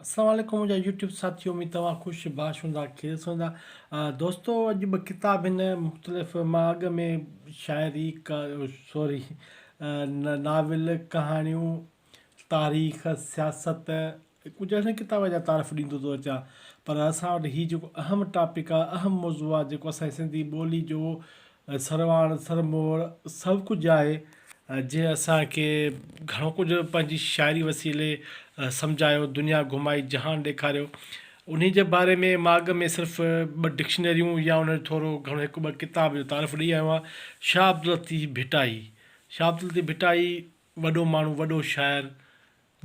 السلام عليڪم منهنجا يوٽيوب ساٿيو اميد توهان خوش باش هوندا خير سان هوندا دوستو اڄ ٻه ڪتاب هن مختلف مان اڳ ۾ شاعري سوري ناول ڪهاڻيون تاريخ سياست ڪجهه اهڙن ڪتابن جا تعارف ڏيندو ٿو اچان پر اسان وٽ هي جيڪو اهم ٽاپڪ آهي اهم موضوع آهي جيڪو اسانجي سنڌي ٻولي جو سرواڻ سرموڙ سڀ ڪجهه آهي جنهن اسان کي گهڻو ڪجهه پنهنجي شاعري وسيلي سمجهايو، دنيا گهمائي جهان ڏيکاريو. انهي جي باري ۾ مان اڳ ۾ صرف ٻه ڊڪشنريون يا ان جو ٿورو گهڻو هڪ ٻه ڪتاب جو تعارف ڏئي آيو آهيان. شاهه عبداللطيف ڀٽائي، شاهه عبداللطيف ڀٽائي وڏو ماڻهو، وڏو شاعر،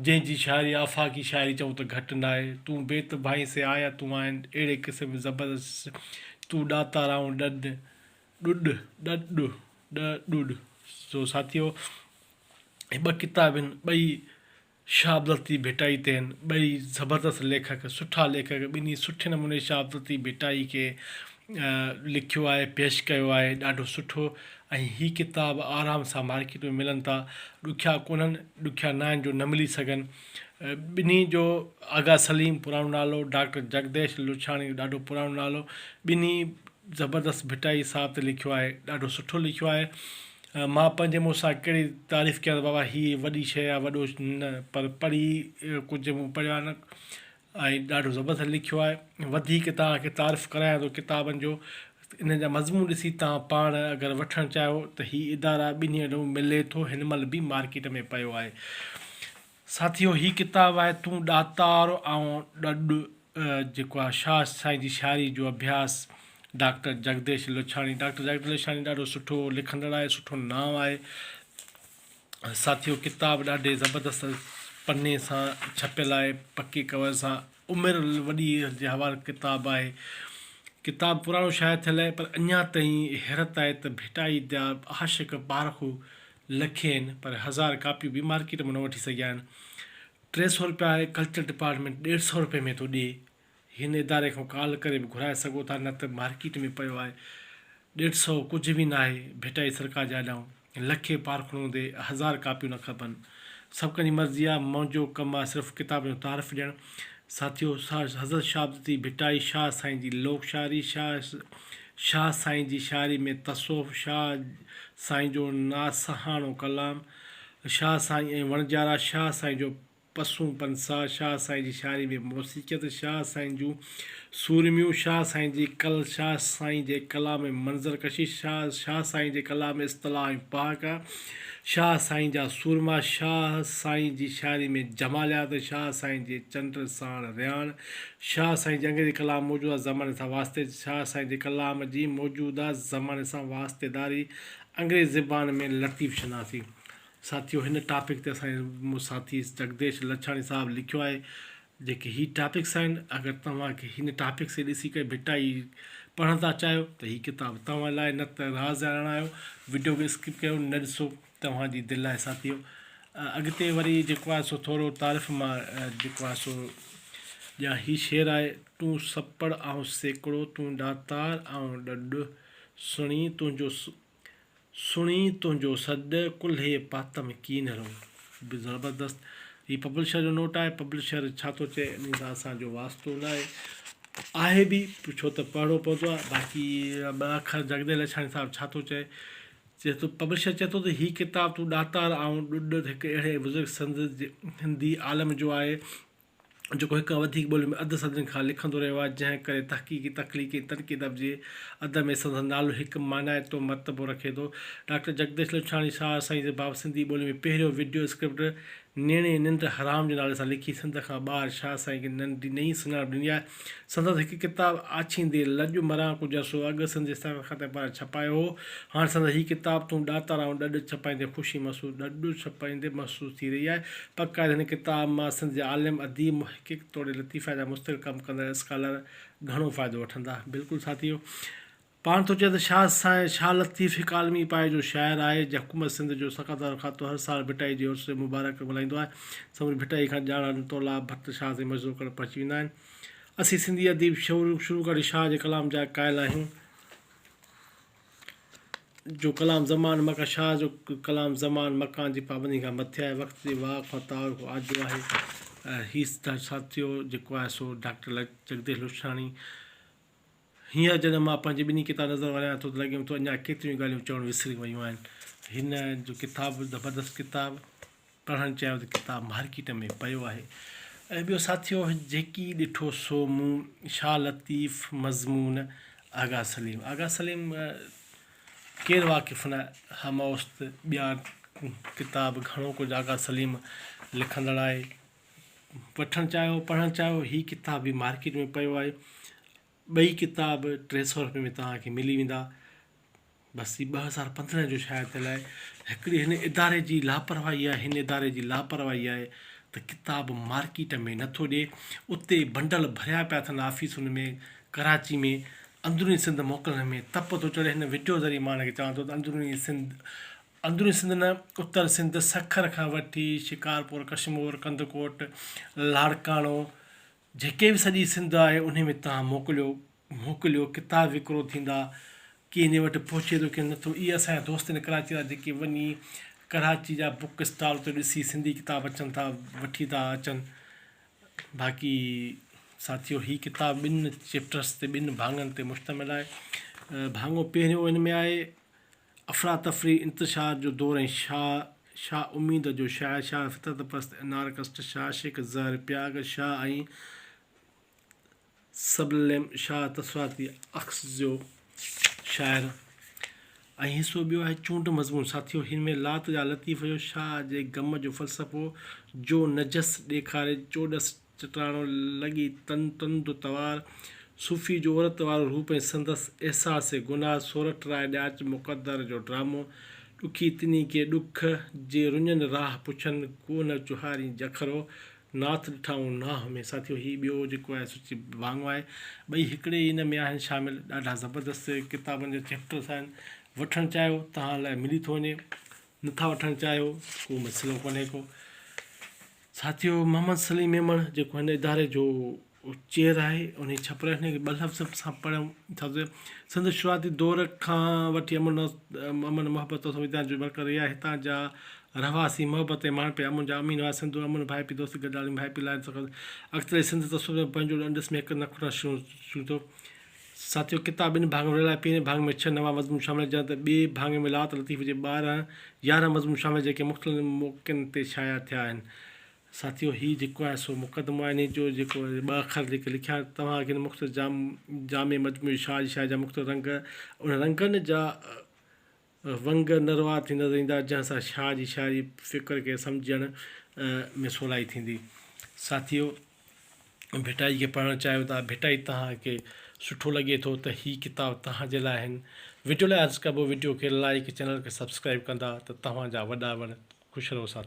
جنهن جي شاعري آفاقي شاعري چئون ته گهٽ ناهي. تون بيت ڀائين سي آيا تون آهين اهڙي قسم زبردست تون ڏاتارائون ڏڏ ڏڏ ڏڏ ڏو ڏ ڏوڏ سو ساٿيو هي ٻه ڪتاب هن ٻئي شاهه عبدالطيف ڀٽائي تي هن ٻئي زبردست ليکڪ سٺا ليکڪ ٻنهي سٺي نموني شاهه عبدالطيف ڀٽائي کي لکيو آهي پيش ڪيو آهي ڏاڍو سٺو ۽ هي ڪتاب آرام سان مارڪيٽ ۾ ملن ٿا ڏکيا ڪونهن ڏکيا نه آهن جو نه ملي سگهن ٻنهي جو آغا سليم پراڻو نالو ڊاڪٽر جگديش لڇاڻي ڏاڍو پراڻو نالو ٻنهي زبردست ڀٽائي صاحب تي لکيو آهي ڏاڍو سٺو لکيو آهي مان پنهنجي مون سان ڪهڙي تعريف ڪيا بابا هي وڏي شيء آهي وڏو نه پر پڙهي ڪجهه مون پڙهيو آهي نه ۽ ڏاڍو زبردست لکيو آهي وڌيڪ توهان کي تعارف ڪرايان ٿو ڪتابن جو انهن جا مضمون ڏسي توهان پاڻ اگر وٺڻ چاهيو ته هي ادارا ٻنهي ڏون ملي ٿو هن مهل به مارڪيٽ ۾ پيو آهي ساٿيو هي ڪتاب آهي تون ڏاتار آئون ڏڏ جيڪو آهي شاهه سائين جي شاعري جو اڀياس ڊاڪٽر جڳديش لڇاڻي ڊاڪٽر جڳديش لڇاڻي ڏاڍو سٺو لکندڙ آهي سٺو نانء آهي ساٿيو ڪتاب ڏاڍي زبردست پني سان ڇپيل آهي پڪي ڪور سان عمر وڏي جي حوالي ڪتاب آهي ڪتاب پراڻو شايع ٿيل آهي پر اڃا تائين حيرت آهي ته ڀٽائي جا عاشق پارکو لکين آهن پر هزار ڪاپيون به مارڪيٽ مان نه وٺي سگهيا آهن ٽي سو روپيا ڪلچر ڊپارٽمينٽ ڏيڍ سو روپئي ۾ ٿو ڏي هن اداري کان ڪال ڪري به گهرائي سگهو ٿا نه ته مارڪيٽ ۾ پيو آهي ڏيڍ سئو ڪجهه به ناهي ڀٽائي سرڪار جي آڏائون لکين پارکڻو هوندي هزار ڪاپيون نه کپن سڀ ڪنهن جي مرضي آهي منهنجو ڪم آهي صرف ڪتابن جو تعارف ڏيڻ ساٿيو حضرت شهابدتي ڀٽائي شاهه سائين جي لوڪ شاعري شاهه سائين جي شاعري ۾ تصوف شاهه سائين جو ناصحاڻو ڪلام شاهه سائين ۽ وڻجارا شاهه سائين جو پسون پنسا، شاهه سائين جي شاعري ۾ موسيقيت، شاهه سائين جون سورميون، شاهه سائين جي ڪل، شاهه سائين جي ڪلام ۾ منظر ڪشي، شاهه سائين جي ڪلام ۾ اصطلاح ۽ پهاڪا، شاهه سائين جا سورما، شاهه سائين جي شاعري ۾ جماليات، شاهه سائين جي چنڊ ساڻ رياڻ، شاهه سائين جي انگريزي ڪلام موجوده زماني سان واسطي، شاهه سائين جي ڪلام جي موجوده زماني سان واسطيداري، انگريزي زبان ۾ لطيف شناسي. ساٿيو هن ٽاپڪ تي اسان جي ساٿي جڳديش لڇاڻي صاحب لکيو آهي جيڪي هي ٽاپڪس آهن اگر توهان کي هن ٽاپڪ کي ڏسي ڪري ڀٽائي پڙهڻ ٿا چاهيو ته هي ڪتاب توهان لاء نه ته راز جا راڻا آهيو وڊيو کي اسڪپ ڪيو نه ڏسو توهان جي دل آهي ساٿيو اڳتي وري جيڪو آهي سو ٿورو تعارف مان جيڪو آهي سو ڄا هي شعر آهي تون سپڙ آئون سيڪڙو تون ڏاتار آئون ڏڏ سڻي تنهنجو سڻي تنهنجو سڏ ڪلهي پهتم ڪين رو به زبردست هي پبلشر جو نوٽ آهي پبلشر ڇا ٿو چئي ان سان اسانجو واسطو نه آهي آهي به ڇو ته پڙهڻو پوندو آهي باقي ٻه اکر جڳديو لڇاڻي صاحب ڇا ٿو چئي چئي ٿو پبلشر چئي ٿو ته هي ڪتاب تون ڏاتار آئون ڏڏ هڪ اهڙي بزرگ سنڌ جي هندي عالم جو آهي جيڪو هڪ کان وڌيڪ ٻولين ۾ اڌ صدين کان لکندو رهيو آهي، جنهن ڪري تحقيقي، تخليقي ۽ ترقي ادب جي ادب ۾ سندس نالو هڪ مانائتو مرتبو رکي ٿو. ڊاڪٽر جڳديش لڇاڻي شاهه سائين جي باب سنڌي ٻولي ۾ پهريون وڊيو اسڪرپٽ نيڻي ننڊ حرام جي نالي سان لکي سنڌ کان ٻاهر شاهه سائين کي نئين سڃاڻپ ڏني آهي. سندس هڪ ڪتاب آڇيندي لڄ مران ڪجا سو اڳ سنڌي ساڳ خط ۽ پڙهه ڇپايو هو. هاڻ سندس هي ڪتاب تون ڏاتار آئون ڏڏ ڇپائيندي خوشي محسوس ڏڏ ڇپائيندي محسوس ٿي رهي آهي. پڪ آهي ته هن ڪتاب مان سنڌ جا عالم، اديب، محقق توڙي لطيفه جا مستقل ڪم ڪندڙ اسڪالر گهڻو فائدو وٺندا. بلڪل ساٿيو! پاڻ ٿو چئي ته شاهه سائين شاهه لطيف هڪ عالمي پايي جو شاعر آهي جنهن حڪومت سنڌ جو سقطار کاتو هر سال ڀٽائي جي عرس مبارڪ ملهائيندو آهي. سموري ڀٽائي کان ڄاڻ نتو الله ڀٽ شاهه تي مجزو ڪرڻ پهچي ويندا آهن. اسين سنڌي اديب شروع کان وٺي شاهه جي ڪلام جا قائل آهيون. جو ڪلام زمان مڪان شاهه جو ڪلام زمان مڪان جي پابندين کان مٿي آهي وقت جي واء کان تعارف آجو آهي. هي ساٿيو جيڪو آهي سو ڊاڪٽر جڳديش لوشاڻي. هينئر جڏهن مان پنهنجي ٻنهي ڪتاب نظر ورايان ٿو ته لڳيم ٿو اڃا ڪيتريون ئي ڳالهيون چوڻ وسري ويون آهن. هن جو ڪتاب به زبردست ڪتاب پڙهڻ چاهيو ته ڪتاب مارڪيٽ ۾ پيو آهي ۽ ٻيو ساٿيو جيڪي ڏٺو سو مون شاهه لطيف مضمون آغا سليم آغا سليم ڪير واقف نه هموست ٻيا ڪتاب گهڻو ڪجهه آغا سليم لکندڙ آهي وٺڻ چاهيو پڙهڻ چاهيو هي ڪتاب به مارڪيٽ ۾ پيو آهي ٻئي ڪتاب ٽي سؤ روپئي ۾ توهان کي ملي ويندا بس هي ٻه هزار پندرهن جو شايد ٿيل آهي هڪڙي هن اداري جي لاپرواهي آهي هن اداري جي لاپرواهي آهي ته ڪتاب مارڪيٽ ۾ نٿو ڏي اتي بنڊل ڀريا پيا اٿن آفيسن ۾ ڪراچي ۾ اندروني سنڌ موڪلڻ ۾ تپ ٿو چڙهي هن وڊيو ذريعي مان هن کي چوان ٿو ته اندروني سنڌ اندروني سنڌ نه، اتر سنڌ سکر کان وٺي شڪارپور، ڪشمور، ڪنڌڪوٽ، لاڙڪاڻو جيڪي به سڄي سنڌ آهي انهي ۾ توهان موڪليو، موڪليو، ڪتاب وڪرو ٿيندا، ڪي انهي وٽ پهچي ٿو ڪي نٿو، اهي اسان جا دوست آهن ڪراچي وارا جيڪي وڃي ڪراچي جا بوڪ اسٽال تي ڏسي سنڌي ڪتاب اچن ٿا وٺي ٿا اچن، باقي ساٿيو هي ڪتاب ٻن چيپٽرس تي ٻن ڀاڱن تي مشتمل آهي، ڀاڱو پهريون ان ۾ آهي افراتفري، انتشار جو دور ۽ شاهه شاهه اميد جو شاعر شاهه فطرت پرست انارڪسٽ شاهه شيخ زهر پياگ شاهه ۽ سبلم شاهه تاثراتي عڪس جو شاعر ۽ حصو ٻيو آهي چونڊ مضمون ساٿيو هن ۾ لات جا لطيف جو شاهه جي غم جو فلسفو جو نجس ڏيکاري چوڏس چٽاڻو لڳي تن تند توار. صوفي جو عورت وارو روپ ۽ سندس احساس گناهه سورٺ راء ڏياچ مقدر جو ڊرامو ڏکي تني ڪي ڏک جي رڃن راهه پڇن ڪو نه چهارين جکرو ناٿ ڏٺائون ناهه ۾ ساٿيو هي ٻيو جيڪو آهي سو چي ڀاڱو آهي ٻئي هڪڙي ئي ان ۾ آهن شامل ڏاڍا زبردست ڪتابن جا چيپٽرس آهن وٺڻ چاهيو تهان لاء ملي ٿو وڃي. نٿا وٺڻ چاهيو ته ڪو مسئلو ڪونهي ڪو. ساٿيو محمد سليم ميمڻ جيڪو هن اداري جو چيئر آهي انهي ڇپرائي هن کي ٻه لفظ به سان پڙهيم ڇا ته سندس شروعاتي دور کان وٺي امن امن محبت ۽ سنويدنا جو مرڪز رهي آهي هتان جا رهواسي محبت ۽ ماڻهپي امن جا امين هئا سنڌو امن ڀائپي دوستي گڏيالي ڀائپي لاء سندس اڳتلي سنڌ تصوف ۾ پنهنجو ڏنڊس ۾ هڪ نه کٽڻ شروع ٿيو ساتيو ڪتاب ٻن ڀاڱن ورهايل آهي، پهرين ڀاڱي ۾ ڇهه نوان مضمون شامل آهن جڏهن ته ٻئي ڀاڱي ۾ لات لطيف جي ٻارهن يارهن مضمون شامل آهن جيڪي مختلف موقعن تي شايع ٿيا آهن. ساتيو هي جيڪو آهي سو مقدمو آهي انهي جو جيڪو ٻه اکر جيڪي لکيا توهان اڳين مختصر جامع مجموعي شاهه جي شاعري جا مختلف رنگ ان رنگن جا ونگ نروار ٿي نظر ايندا، جنهن سان شاهه جي شاعري فڪر کي سمجهڻ ۾ سولائي ٿيندي. ساٿيو! ڀٽائي کي پڙهڻ چاهيو ٿا، ڀٽائي توهان کي سٺو لڳي ٿو ته هي ڪتاب توهان جي لاء آهن. وڊيو لاء عرض ڪبو وڊيو کي لائيڪ چينل کي سبسڪرائيب ڪندا ته توهان جا وڏا وڻ. خوش رهو ساٿيو.